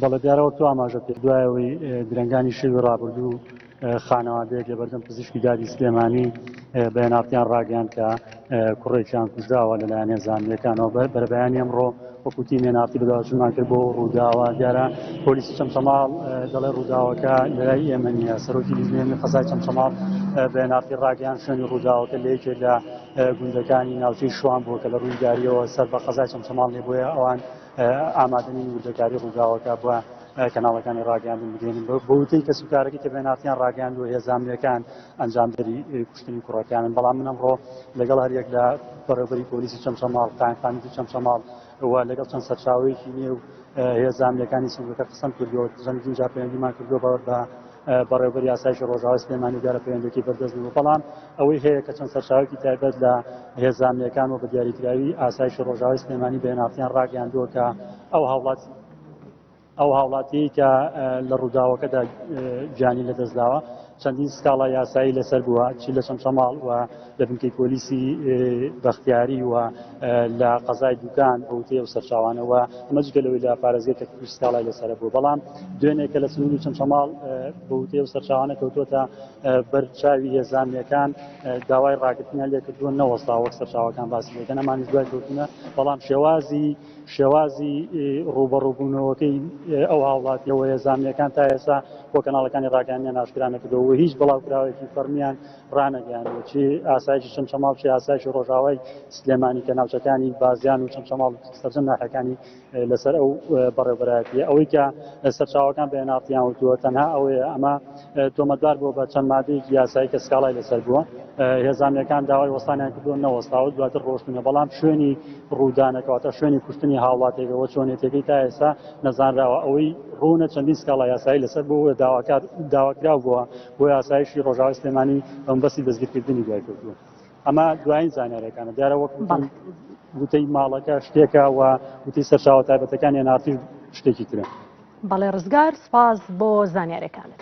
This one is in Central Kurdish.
بەڵێ دیارە وەک تۆ ئاماژە کرد دوای ئەوەی درەنگانی شەوی ڕابردوو خانەوادەیەک لە بەردەم پزیشکی دادی سلێمانی بەێناڵتیان ڕاگەیان کە کوڕێکیان کوژراوە لەلایەن هێزانەکانەوە بەرەبەیانی ئەمڕۆ وەکوتی نێناڵتی بەداواچوونمان کرد بۆ ڕووداوە دیارە پۆلیسی چەمچەماڵ دەڵێ ڕووداوەکە لەلای ئێمە نیە سەرۆکی لیژنێنی قەزای چەمچەماڵ بەێناڵتی ڕاگەیان شوێنی ڕووداوەکە لە یەکێک لە گوندەکانی ناوچەی شوان بووە کە لە ڕوویداریەوە سەر بە قەزای چەمچەماڵ لێ بۆیە ئەوان ئامادەنین وردەکاری ڕووداوەکە بۆ کەناڵەکانی ڕاگەاندن بدێنن بە وتەی کەس و کارەکە کە بێناتیان ڕاگەاند و هێزانامەکان ئەنجامدەری کوشتنی کوڕەکانن بەڵام منم ڕۆ لەگەڵ هەریەک لە بەڕێبەری پۆلیسی چەمچەماڵ قایمقامی و چەمچەماڵ و لەگەڵ چەند سەرچاوەیەکی نێو هێزانامەکانی سنگەکە قسەم کردووە چەندین جا پەیوەندیمان کردووە بە بەڕێوەبەری ئاسایشی ڕۆژاوای سلێمانی دیارە پەیوەندیەکەی بەردەست نەبوو بەڵام ئەوەی هەیە کە چەند سەرچاوێکی تایبەت لە هێزانمیەکان و بە دیاریکراوی ئاسایشی ڕۆژاوای سلێمانی بەێنافتیان ڕاگەیاندووە کە ئەو هاوڵات ئەو هاوڵاتی کە لە ڕووداوەکەدا گیانی لەدەستداوە چەندین سکاڵا یاسایی لەسەر بووە چی لە چەمچەماڵ و لە بنکەی پۆلیسی بەختیاری و لە قەزای دوکان بە وتەی ئەو سەرچاوانەوە ئەمە جگە لەوەی لە پارێزگەی کەرکووک سکاڵای لەسەر بوو بەڵام دوێنێ کە لە سنوور و چەمچەماڵ بە وتەی ئەو سەرچاوانە کەوتووەتە بەرچاوی هێزانەکان داوای ڕاگرتنیان لێ کردووە نەوەستا وەک سەرچاوەکان باسی لەکەن ئەمانیش دوای کەوتنە بەڵام شێوازی شێوازی ڕوبەڕوبوونەوەکەی ئەو هاوڵاتیەوە هێزانەکان تا ئێستا بۆ کەناڵەکانی ڕاگەیاندنیان ئاشکرا نەکردەوە و هیچ بڵاوکراوێکی فەرمیان ڕانەگەیاندووە چی ئاسایشی چەمچەماڵ چی ئاسایشی ڕۆژاوای سلێمانی کە ناوچەکانی بازیان و چەمچەماڵ سەرجەم ناحەکانی لەسەر ئەو بەڕێوبەرایەتی ئەوەی کە سەرچاوەکان بە نارتیان وتووە تەنها ئەوەیە ئەمە تۆمەتبار بووە بە چەند مادەیەکی یاسایی کە سکاڵای لەسەر بووە هێزانەکان داوای وەستانیان کردووە نەوەستاوە دواتر ڕۆشتنە بەڵام شوێنی ڕوودانەکەواتە شوێنی کوشتنی هاوڵاتێکەوە چۆنێتەکەی تا ئێستا نەزانراوە ئەوەی ڕوونە چەندین سکاڵا یاسایی لەسەر بوو داواکار داواکراو بووە بۆیە ئاسایشی ڕۆژاوای سلێمانی بەمبەستی دەستگیرکردنی دوای کەوتووە ئەمە دوایین زانارەکانە دیارە وەک وتەی ماڵەکە شتێکە و وتی سەرچاوە تایبەتەکان یەنارتی شتێکی ترە بەڵێ ڕزگار سپاس بۆ زانیارەکانت.